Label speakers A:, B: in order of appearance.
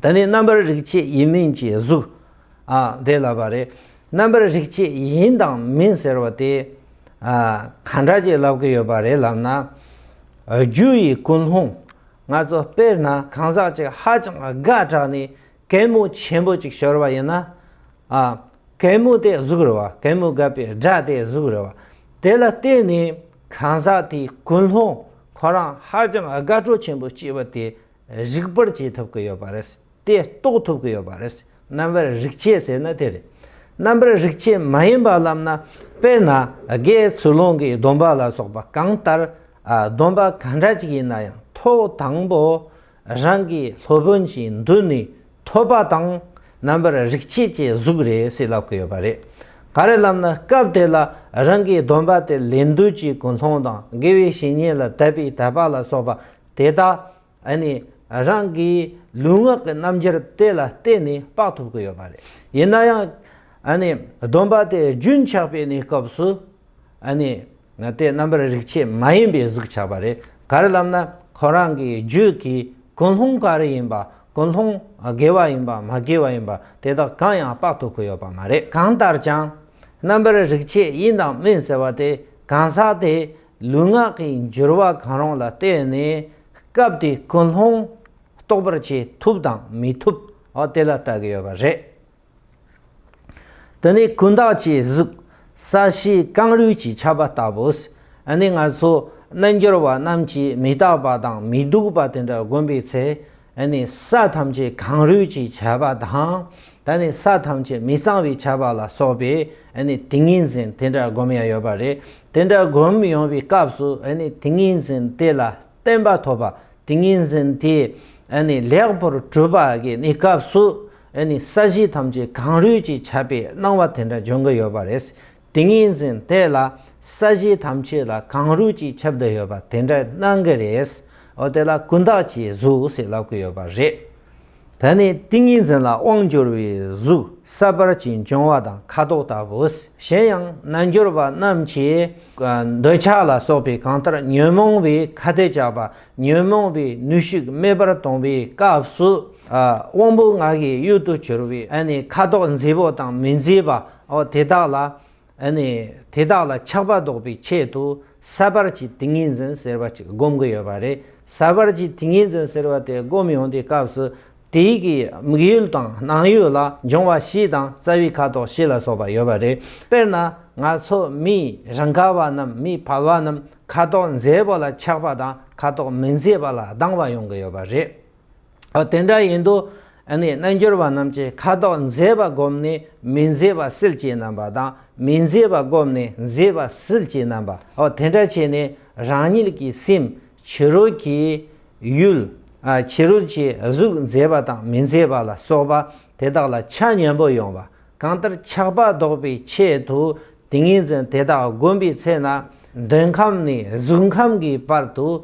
A: ད་ནི་རྣམ་པར་རིག་བྱེད་ཡིན་མིན་གྱི་གཟུགས་དེ་ལ་བ་རེ་རྣམ་པར་རིག་བྱེད་ཡིན་དང་མིན་ཟེར་བ་དེ་གང་འདྲ་ཅིག་ལབ་ཀྱི་ཡོད་པ་རེད་ལབ་ན། རྒྱུ་ཡི་ཀུན་སློང་ང་ཚོ་དཔེར་ན་གང་ཟག་ཅིག་ཧ་ཅང་དགའ་དྲགས་ནས་གད་མོ་ཆེན་པོ་ཅིག་ཤོར་བ་ཡིན་ན། གད་མོ་དེ་གཟུགས་རེད་བ་གད་མོ་བརྒབ་པའི་སྒྲ་དེ་གཟུགས་རེད་བ་དེ་ལ་བརྟེན་ནས་གང་ཟག་དེའི་ཀུན་སློང་ཁོ་རང་ཧ་ཅང་དགའ་སྤྲོ་ཆེན་པོ་སྐྱེས་པ་དེ་རིག་པར་བྱེད་ཐུབ་ཀྱི་ཡོད་པ་རེད། དེ་རྟོགས་ཐུབ་ཀྱི་ཡོད་པ་རེད། རྣམ་པར་རིག་བྱེད་ཟེར་ན་དེ་རེད། རྣམ་པར་རིག་བྱེད་མ་ཡིན་པ་ལབ་ན་དཔེར་ན་རྒས་ཚུལ་སློང་གི་སྡོམ་པ་ལ་སོགས་པ་གང་ལྟར་སྡོམ་པ་ག་འདྲ་ཅིག་ཡིན་ན་ཡང་ཐོག་དང་པོ་རང་གི་སློབ་དཔོན་གྱི་མདུན་ནས་ཐོབ་པ་དང་རྣམ་པར་རིག་བྱེད་ཀྱི་གཟུགས་རེད་ཟེར་ལབ་ཀྱི་ཡོད་པ་རེད། ག་རེ་ལབ་ན་སྐབས་དེ་ལ་རང་གི་སྡོམ་པ་དེ་ལེན་དུས་ཀྱི་ཀུན་སློང་དང་དགེ་བའི་བཤེས་གཉེན་ལ་དད་པའི་དད་པ་ལ་སོགས་པ་དེ་དག་ནི་རང་གི་ལུས་ངག་གི་རྣམ་འགྱུར་དེ་ལ་བརྟེན་ནས་དཔག་ཐུབ་ཀྱི་ཡོད་པ་རེད། ཡིན་ན་ཡང། སྡོམ་པ་དེ་རྒྱུན་ཆགས་པའི་གནས་སྐབས་སུ། དེ་རྣམ་པར་རིག་བྱེད་མ་ཡིན་པའི་གཟུགས་ཆགས་པ་རེད། གར་ལམ་ན་ཁོ་རང་གི་རྒྱུད་ཀྱི་ཀུན་སློང་ག་རེ་ཡིན་པ་ཀུན་སློང་དགེ་བ་ཡིན་པ་མ་དགེ་བ་ཡིན་པ་དེ་དག་གང་ཡང་དཔག་ཐུབ་ཀྱི་ཡོད་པ་མ་རེད། གང་ལྟར་ཀྱང། རྣམ་པར་རིག་བྱེད་དབྱིངས་དང་མིན་ཟེར་བ་དེ་གང་ཟག་དེ་ལུས་ངག་གི་འགྱུར་བ་གང་རུང་ལ་བརྟེན་ནས་སྐབས་དེའི་ཀུན་སློང་རྟོགས་པར་བྱེད་ཐུབ་དང་མི་ཐུབ་དེ་ལ་བལྟ་གི་ཡོད་པ་རེད། དེ་ནི་ཀུན་བརྟགས་ཀྱི་གཟུགས་ས་གཞི་རྐང་རུས་ཀྱི་ཁྱབ་པ་ལྟ་བུས་ནི་ང་ཚོ་རྣལ་འབྱོར་བ་རྣམས་ཀྱིས་མི་རྟག་པ་དང་མི་སྡུག་པ་དེ་འདྲ་བསྒོམས་པའི་ཚེ་ད་ནི་ས་ཐམས་ཅད་གང་རུས་ཀྱི་བྱ་བ་དང། ད་ནི་ས་ཐམས་ཅད་མི་གཙང་བའི་བྱ་བ་ལ་སོགས་པས་ཏིང་ངེ་འཛིན་དེ་འདྲ་བསྒོམ་ཡ་ཡོད་པ་རེད། དེ་འདྲ་བསྒོམ་ཡོང་བའི་སྐབས་སུ་ཏིང་ངེ་འཛིན་དེ་ལ་བརྟན་པ་ཐོབ་པ་ཏིང་ངེ་འཛིན་དེ་ལེགས་པོར་གྲུབ་པ་གི་ནི་སྐབས་སུ་ས་གཞི་ཐམས་ཅད་གང་རུས་ཀྱི་བྱ་བའི་སྣང་བ་དེ་འདྲ་འབྱུང་གི་ཡོད་པ་རེད། ཏིང་ངེ་འཛིན་དེ་ལ་ས་གཞི་ཐམས་ཅད་ལ་གང་རུས་ཀྱི་ཁྱབ་བདག་ཡོད་པ་དེ་འདྲ་སྣང་གི་རེད། འོ་དེ་ལ་ཀུན་བརྟགས་ཀྱི་གཟུགས་ཞེས་ལབ་ཀི་ཡོད་པ་རེད། ད་ནི་ཏིང་ངེ་འཛིན་ལ་དབང་བསྒྱུར་བའི་གཟུགས་ས་བར་གྱི་འབྱུང་བ་དང་ཁ་དོག་ལྟ་བུ། གཞན་ཡང་རྣལ་འབྱོར་པ་རྣམས་ཀྱིས་འདོད་ཆགས་ལ་སོགས་པའི་གང་ལྟར་ཉོན་མོངས་པའི་ཁ་དོས་བཅག་པ་ཉོན་མོངས་པའི་ནུས་ཤུགས་རྨས་པར་གཏོང་པའི་སྐབས་སུ། དབང་པོ་ངག་གི་གཡུལ་དུ་གྱུར་པའི་ཁ་དོག་མཛེས་པོ་དང་མི་མཛེས་པ་འོ་དེ་དག་ལ། ནི། དེ་དག་ལ་ཆགས་པ་བཟློག་པའི་ཆེད་དུ་ཟད་པར་གྱི་ཏིང་ངེ་འཛིན་ཟེར་བ་ཅིག་བསྒོམ་གྱི་ཡོད་པ་རེད། ཟད་པར་གྱི་ཏིང་ངེ་འཛིན་ཟེར་བ་དེ་བསྒོམ་ཡོང་དུས་སྐབས་སུ། དེའི་གི་དམིགས་ཡུལ་དང་སྣང་ཡུལ་ལ་འབྱུང་བ་བཞི་དང་རྩ་བའི་ཁ་དོག་བཞི་ལ་སོགས་པ་ཡོད་པ་རེད། དཔེར་ན། ང་ཚོ་མིས་རང་ག་བ་རྣམས་མིས་ཕལ་བ་རྣམས་ཁ་དོག་མཛེས་པོ་ལ་ཆགས་པ་དང་ཁ་དོག་མི་མཛེས་པ་ལ་སྡང་བ་ཡོང་གི་ཡོད་པ་རེད། ཨ་དེ་འདྲ་ཡིན་དུ། རྣལ་འབྱོར་པ་རྣམས་ཀྱིས་ཁ་དོག་མཛེས་པ་བསྒོམས་ནས་མི་མཛེས་པ་སེལ་གྱི་རྣམ་པ་དང་མི་མཛེས་པ་བསྒོམས་ནས་མཛེས་པ་སེལ་གྱི་རྣམ་པ་ཨོ་དེ་འདྲ་བྱས་ནས་རང་ཉིད་ཀྱི་སེམས་ཕྱི་རོལ་གྱི་ཡུལ། ཕྱི་རོལ་གྱི་གཟུགས་མཛེས་པ་དང་མི་མཛེས་པ་ལ་སོགས་པ་དེ་དག་ལ་ཆ་མཉམ་པོ་ཡོང་བ་གང་ལྟར་ཆགས་པ་བཟློག་པའི་ཆེད་དུ་ཏིང་ངེ་འཛིན་དེ་དག་བསྒོམ་པའི་ཚེ་ན། འདོད་ཁམས་ནས་གཟུགས་ཁམས་ཀྱི་བར་དུ།